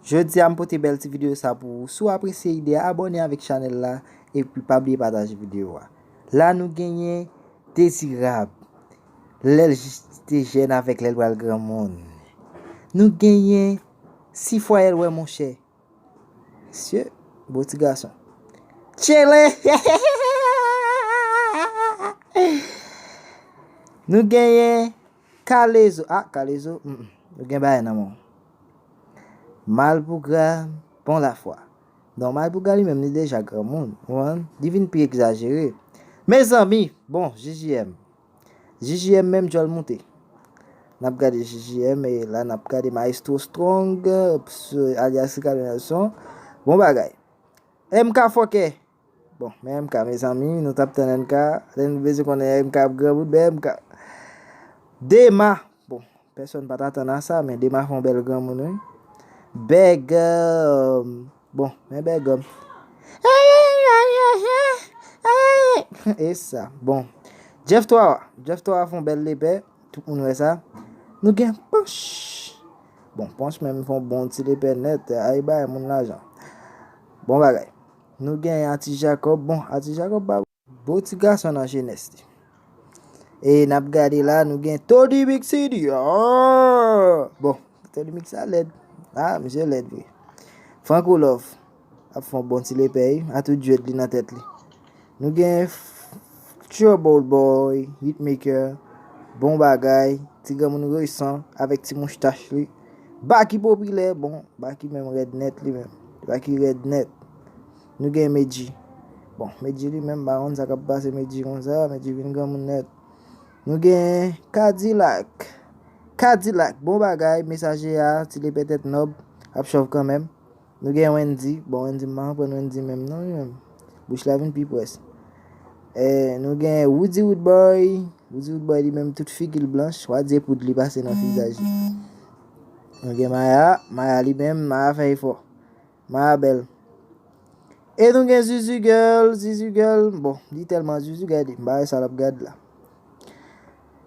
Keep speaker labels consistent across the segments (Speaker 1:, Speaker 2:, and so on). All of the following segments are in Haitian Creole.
Speaker 1: Jodia m pote bèl ti video sa pou ou, si w apresye ide a abòne avèk chanèl la epi pa bliye pataje video a. La nou genyen Dezirab lè l jis te jèn avèk lè l pral granmoun. Nou genyen Sifwayèl wè monchè. Mesye, bon ti gason. Tchele! Nou genyen. Kalezo ah kalezo humm ou gen bagay nan menw malpougra bon lafwa non malpougra li menm li deja granmoun ou konprann li vin pi egzajere mezanmi bon JJM JJM menm djòl moute nap gade JJM e la nap gade maestro strong alyas Ricardo Nelson bon bagay MK fòkè. Bon men MK mezanmi nou tap tann MK lè nou t bezwen konnen MK ap granmoun men MK Dema bon pèsòn pat atann a sa men Dema fè yon bèl granmoun wi Bègòm bon men Bègòm Eyy esa bon Jeff 3 wa Jeff 3 wa fè yon bèl lepè tout moun wè sa nou gen Panch bon Panch menm fè yon bon ti lepè nèt ayy bay moun lajan bon bagay. Nou gen Ati Jacob bon Ati Jacob pa beau ti gason nan jenès li e nap gade la nou gen Tony Mix CD aah bon Tony Mix la lèd ah misye lèd vre Franco Love ap fon bon ti lepè wi a tout djwed li nan tèt li nou gen Trouble Boy Hitmaker bon bagay ti granmoun resan avèk ti mouch tach li. Baky popilè bon Baky menm rèd nèt li menm Baky rèd nèt Nou gen Medjy bon Medjy li menm m pa konn sa kap pase Medjy konsa Medjy vin granmoun nèt Nou gen Kadilak Kadilak bon bagay Mesaje a ti lepètèt nòb ap chòv kanmenm. Nou gen Wendy, bon Wendy m pa konprann Wendy menm non li menm, bouch la vin pi pwès. Nou gen Roody Roodboy, Roody Roodboy li menm tout figi l blanch, wa di e poud li pase nan vizaj li. Nou gen Maya, Maya li menm, Maya fè efò. Maya bèl. E nou gen Zuzu Girl, Zuzu Girl, bon li tèlman Zuzu gade, m pa wè sa l ap gad la.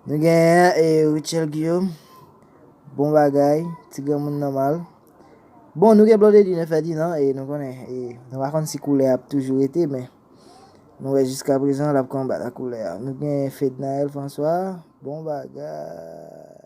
Speaker 1: Nou genyen e Rutshelle Guillaume. Bon bagay, ti granmoun nòmal. Bon, nou gen Blondedy ne Ferdinand e nou konnen e nou pa konn si koulè ap toujou rete men nou wè jiska prezan l ap konbat ak koulè a. Nou gen Fednaelle François. Bon bagay.